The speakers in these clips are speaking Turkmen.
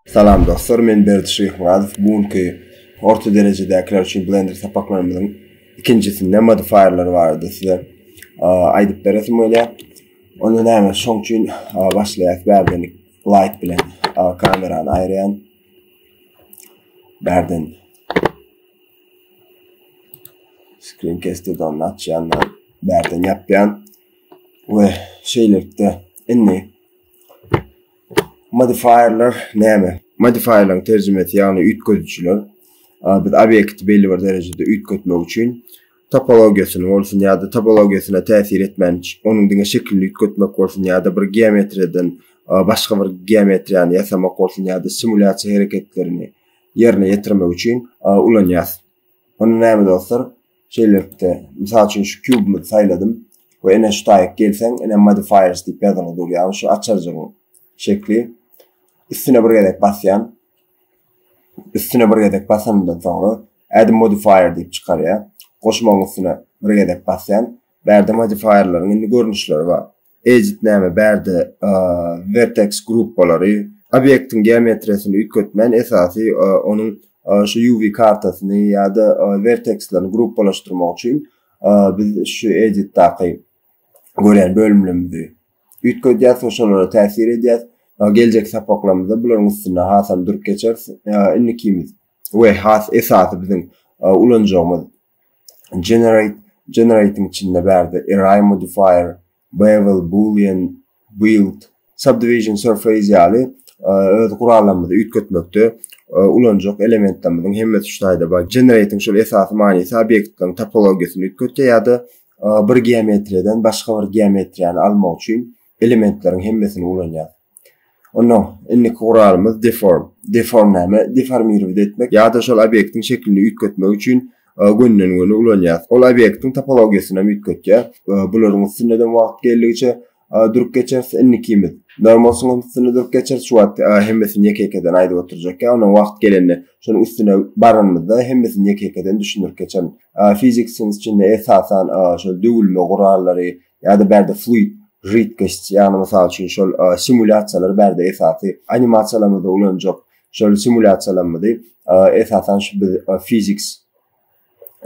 Salam dostlar men Berdi Şyhmyradow bu günki orta derejedäkiler üçin blender sapaklarymyzyň ikinjisinde modifierler barada size aýdyp beresim gelýär. Onda näme şoň üçin başlaýarys bärden light bilen kamerany aýyrýan. Bärden Screencast'de onu açýan da bärden ýapýan we şeýlelikde indi modifierler näme? Modifierleriň terjimesi ýagny üýtgedijiler. Biz obýekti belli bir derejede üýtgetmek üçin topologiýasyny bolsun ýa-da topologiýasyna täsir etmän onuň diňe şekilini üýtgetmek bolsun ýa-da bir geometriýadan başga bir geometriýany ýasamak bolsun ýa-da simulýasiýa hereketlerini ýerine ýetirmek üçin ulanýas. Onda näme dostlar? Şeýlelikde, mysal üçin şu kubymyzy saýladym we ene şu taýyk gelseň, ene modifiers diýip ýazylgy durýar, şu açarjygyň şekli. Üstüne bir gezek basýan. Üstüne bir gezek basandan soňra add modifier diýip çykarýar. Goşmagyň üstüne bir gezek basýan. Bärde modifierleriň indi görnüşleri bar. Ejit näme bärde verteks gruppalary obýektiň geometriýasyny üýtgetmän esasy onuň şu UV kartasyny ýa-da vertekslerini gruppalaşdyrmak üçin biz şu editdaky görýän bölümlerimizi üýtgedýäs we şolara täsir edýäs. Geljek sapaklarymyzda bularyň üstünde hasam durup geçeris. Indikimiz we has esasy biziň ulanjagymyz generate generating içinde bärde array modifier bevel boolean build subdivision surface ýaly e, öz gurallarymyzy üýtgetmekde e, ulanjak elementlerimiziň hemmesi şu taýda bar generating şol esasy manysy obýektleriň topologiýasyny üýtgetýär ýa-da e, bir geometriýadan başga bir geometriýany almak üçin elementleriň hemmesini ulanýar Onda indiki guralymyz deform. Deform näme? Deformirowat etmek ýa-da şol obýektiň şeklini üýtgetmek üçin e, gönden-göni ulanýarys. Ol obýektiň topologiýasyny hem üýtgetýär. E, bularyň üstünde de wagt geldigiçe e, durup geçeris. Indikimiz normal sunuň üstünde durup geçeris. Şu wagt hemmesini ýeke-ýekeden aýdyp oturjak. Ýa onda wagt gelende şonuň üstüne baranymyzda hemmesini ýeke-ýekeden düşündirip geçerin. Fizik sunuň içinde esasan şol döwülme gurallary, Ýa-da bärde fluid židkost, ýagny mysal üçin şol simulýasiýalary bärde esasy animasiýalarymyzda ulanjak şol simulýasiýalarymyzy esasan şu biz physics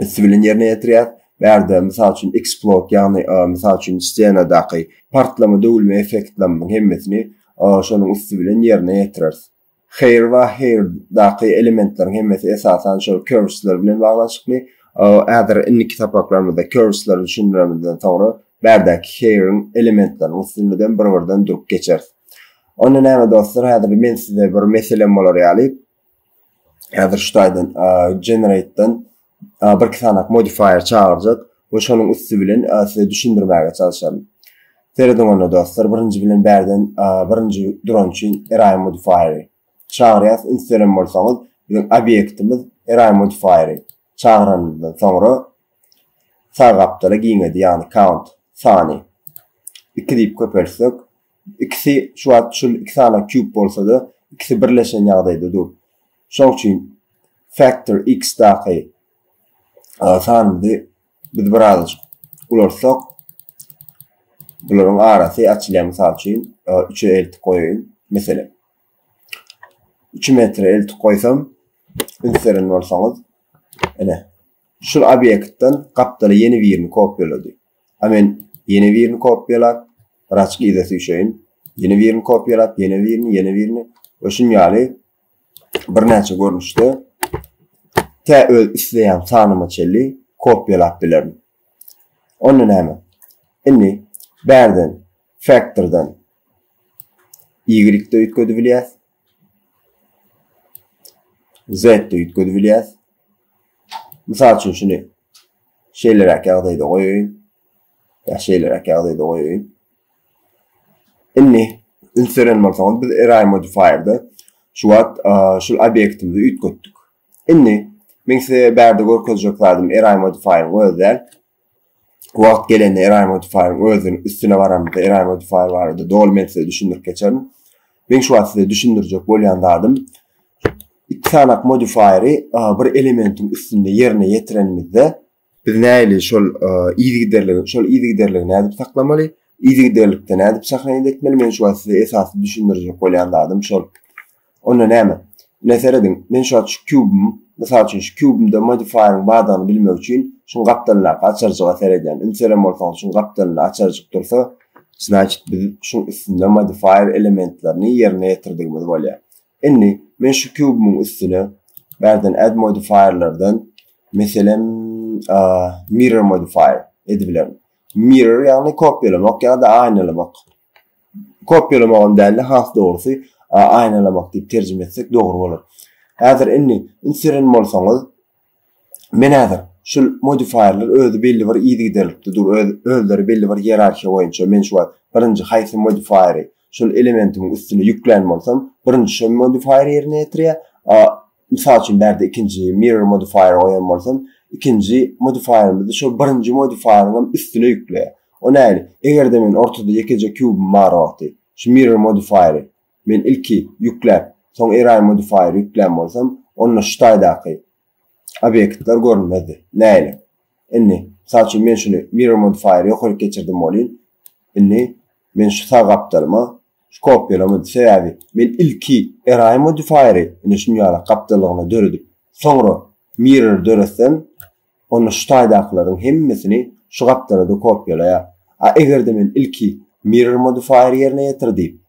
üsti bilen ýerine ýetirýär. Bärde mysal üçin explode, ýagny mysal üçin ssenadaky partlama döwülme effektlerimiziň hemmesini şonuň üsti bilen ýerine ýetireris. Here we here daky elementleriň hemmesi esasan şol curvesler bilen baglanyşykly. Häzir indiki sapaklarymyzda curvesleri düşündiremizden soňra bärdäki here-iň elementleriniň üstünden bir-birden durup geçeris. Onda näme dostlar, häzir men size bir meselem bolar ýaly, häzir şu taýdan generate-den bir sanak modifier çagyrjak we şonuň üsti bilen size düşündirmäge çalyşaryn. Serediň onda dostlar, birinji bilen bärden birinji duran üçin array modifieri çagyrýas. Ünslerem bolsaňyz, biziň obýektimiz array modifieri çagyranymyzdan soňra sag gapdala giňedi, ýagny count sany 2 diýip köpeltsek, ikisi şu wagt şu iki sanak kýub bolsa-da, ikisi birleşen ýagdaýda dur. Şoň üçin Factor X-daky sanymyzy biz birazajyk ulaltsak, bularyň arasy açylýar. Mysal üçin, 3-e eltip goýaýyn. Meselem, 3 metre eltip goýsam, ünseren bolsaňyz, ene, şu obýektden gapdala ýene birini kopýalady. A men ýene birini kopýalap, raçki ize süýşeýin. Ýene birini kopýalap, ýene birini, ýene birini we şuny ýaly birnäçe görnüşde tä öz isleýän sanyma çenli kopýalap bilerin. Onda näme? Indi bärden faktordan y-de üýtgedip bilýäs. Z-de üýtgedip bilýäs. Mysal üçin şuny şeýleräk ýagdaýda goýaýyn. Ýa şeýleräk ýagdaýda goýaýyn. Indi üns beren bolsaňyz biz array modifier-de şu wagt şul obýektimizi üýtgetdik. Indi men size bärde görkezjek zadym array modifier-iň özi däl. Wagt gelende array modifier-iň özüniň üstüne baramyzda array modifier barada doly men size düşündirip geçerin. Men şu wagt size düşündirjek bolýan zadym, iki sanak modifieri bir elementiň üstünde ýerine ýetirenimizde biz näli şol yzygiderligi, şol yzygiderligi nädip saklamaly? Yzygiderlikde nädip şahaýat etmeli? Men şu wagt size esasy düşündirjek bolýan zadym şol. Onda näme? Ine serediň, men şu wagt şu kubym, mysal üçin şu kubymda modifieriň bardygyny bilmek üçin şuň gapdalyndaky açarjyga seredýän. Ünseren bolsaňyz şuň gapdalynda açarjyk dursa, znaçit biz şuň üstünde modifier elementlerini ýerine ýetirdigimiz bolýar. Indi men şu kubymyň üstüne bärden add modifierlerden meselem mirror modifier edibilerin. Mirror ýagny kopýalamak ýa-da aýnalamak Kopýalamagam däl-de, has dogrusy, aýnalamak diýip terjime etsek dogry bolar. Häzir indi, üns beren bolsaňyz, men häzir şul modifierler özi belli bir yzygiderlikde dur, özleri belli bir ýerarhiýa boýunça, men şu wagt birinji haýsy modifieri şul elementimiň üstüne ýüklän bolsam, birinji şo modifier ýerine ýetirýär, Mysal üçin bärde ikinji mirror modifier goýan bolsam, ikinji modifier-imizde şol birinji modifier-iň hem üstüne ýükleýär. O nähili? Eger-de men ortada ýekeje kubym bar wagty, şu mirror modifier-i men ilki ýükläp, soň array modifier-i ýüklän bolsam, onda şu taýdaky obýektler görünmezdi. Nähili? Indi, mysal üçin, men şuny mirror modifier-i ýokaryk geçirdim welin, indi, Men şu sag gapdalyma şu kopýalama düşe ýaly, men ilki Eraýy modifaýery ine şunýalak gapdallygyna döredip, soňra mirror döretsem, onda şu taýdakylaryň hemmesini şu gapdala-da kopýalaýar. A eger-de men ilki mirror modifaýery ýerine ýetir diýip,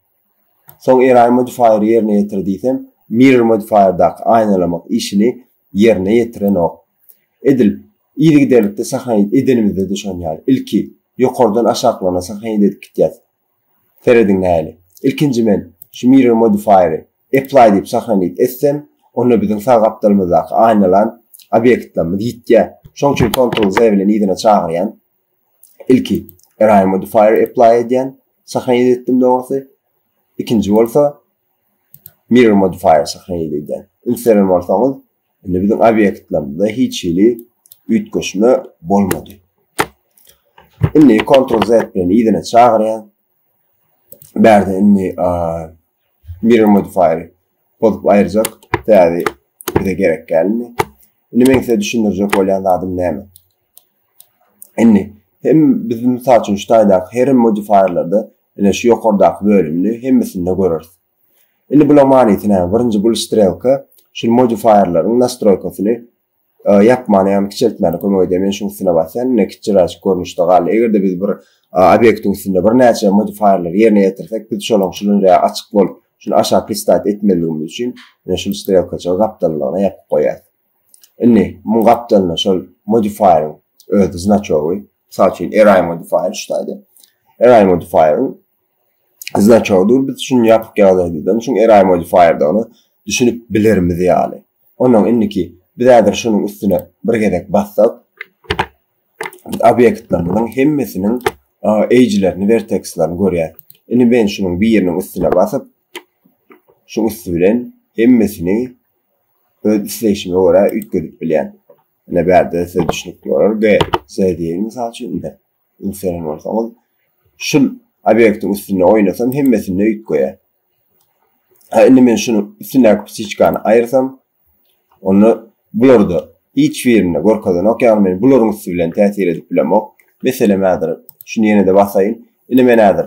soň Eraýy modifaýery ýerine ýetir diýsem, mirror modifaýerdaky aýnalamak işini ýerine ýetirenok. Edil, yzygiderlikde sahaýyt edenimizde-de şon ýaly. Ilki, ýokardan aşaklaryna sahaýyt edip gitýäs. Serediň nähili. Ilkinji men şu Mirror Modifier-i Apply diýip sahaýyt etsem, onda biziň sag gapdalymyzdaky aýnalan obýektlerimiz ýitýär. Şoň üçin Ctrl Z bilen yzyna çagyrýan. Ilki, Array Modifier-i Apply edýän. Sahaýyt etdim dogrusy. Ikinji bolsa, Mirror Modifier sahaýyt edýän. Üns beren bolsaňyz, Indi biziň obýektlerimizde hiç hili üýtgeşme bolmady. Indi Ctrl Z bilen ýene çagyrýan. Bärde indi mirror modifier bozup aýyrjak. Täze bize gerek geldi. Indi men size düşündirjek bolýan zadym näme? Indi hem biz mysal üçin şu taýdaky her modifierlerde ine şu ýokardaky bölümini hemmesinde göreris. Indi bulaň manysy näme? Birinji bul strelka şul modifierleriň nastroýkasyny e, ýapmana ýagny kiçeltmäne kömek edýär. Men şuň üstüne basýan, ine kiçiräşik görnüşde galdy. Eger-de biz bir obyektiň üstünde bir näçe modifierleri ýerine ýetirsek, biz şolaň şulunja açyk bolup, şuny aşak listat etmezligimiz üçin, ine şul strelkaçygy gapdallygyna ýapyp goýýar. Indi muň gapdalynda şol modifieriň öz znaçogy, mysal üçin array modifier şutaýda. Array modifieriň znaçogydyr. Biz şuny ýapyk ýagdaýda, şuň array modifierdäni düşünip bilerimiz ýaly. Ondan indiki biz häzir şunuň üstüne bir gezek bassak, biz obýektlerimiziň hemmesiniň eýjilerini, vertekslerini görýäris. Indi men şunuň biriniň üstüne basyp, şu üsti bilen hemmesini öz isleýşime görä üýtgedip bilýän. Ine bärde size düşnükli bolar we size diýeýin mysal üçin indi ünslenýän bolsaňyz şul obýektiň üstünde oýnasam hemmesinde üýtgeýär. Ha indi men şuny üstündäki psiçkany aýyrsam onda bu ýerde hiç birinde görkezenok ýagny men bularyň üsti bilen täsir edip bilemok. Meselem häzir şuny ýene-de basaýyn. Indi men häzir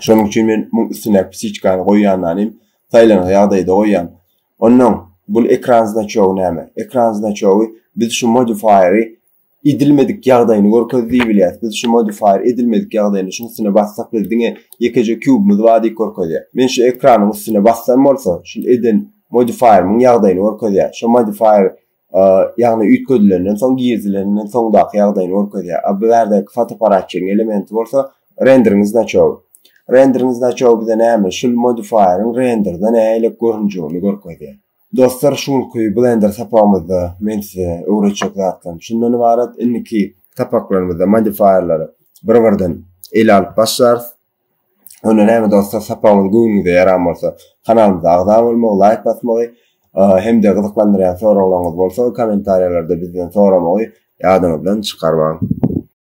Şonuň üçin men muň üstüne psiçkany goýýanlanym saýlanyk ýagdaýda goýýan. Onnoň bul ekran znaçogy näme? Ekran znaçogy biz şu modifieri edilmedik ýagdaýyny görkez diýip bilýäs. Biz şu modifier edilmedik ýagdaýyny şuň üstüne bassak biz diňe ýekeje kubymyz bar diýip görkezýär. Men şu ekranyň üstüne bassam bolsa, şul eden modifierimiň ýagdaýyny görkezýär. Şu modifier ýagny üýtgedilenden soň girizilenden soňdaky ýagdaýyny görkezýär. A bu ýerdäki fotoapparatçyň elementi bolsa rendering znaçowy. Rendering znaçowy bize näme? Şul modifierin renderda nälik görünjegini görkezýär. Dostlar, şu günki Blender sapagymyzda men size öwretjek zatlarym şundan ybarat. Indiki sapaklarymyzda modifierleri bir-birden ele alyp başlarys. Onda näme dostlar, sapagyňyz göwnüňize ýaran bolsa, kanalymyza agza bolmagy, laýk basmagy hem-de gyzyklandyrýan soraglaryňyz bolsa, kommentariýalarda bizden soramagy ýadyňyzdan çykarmaň.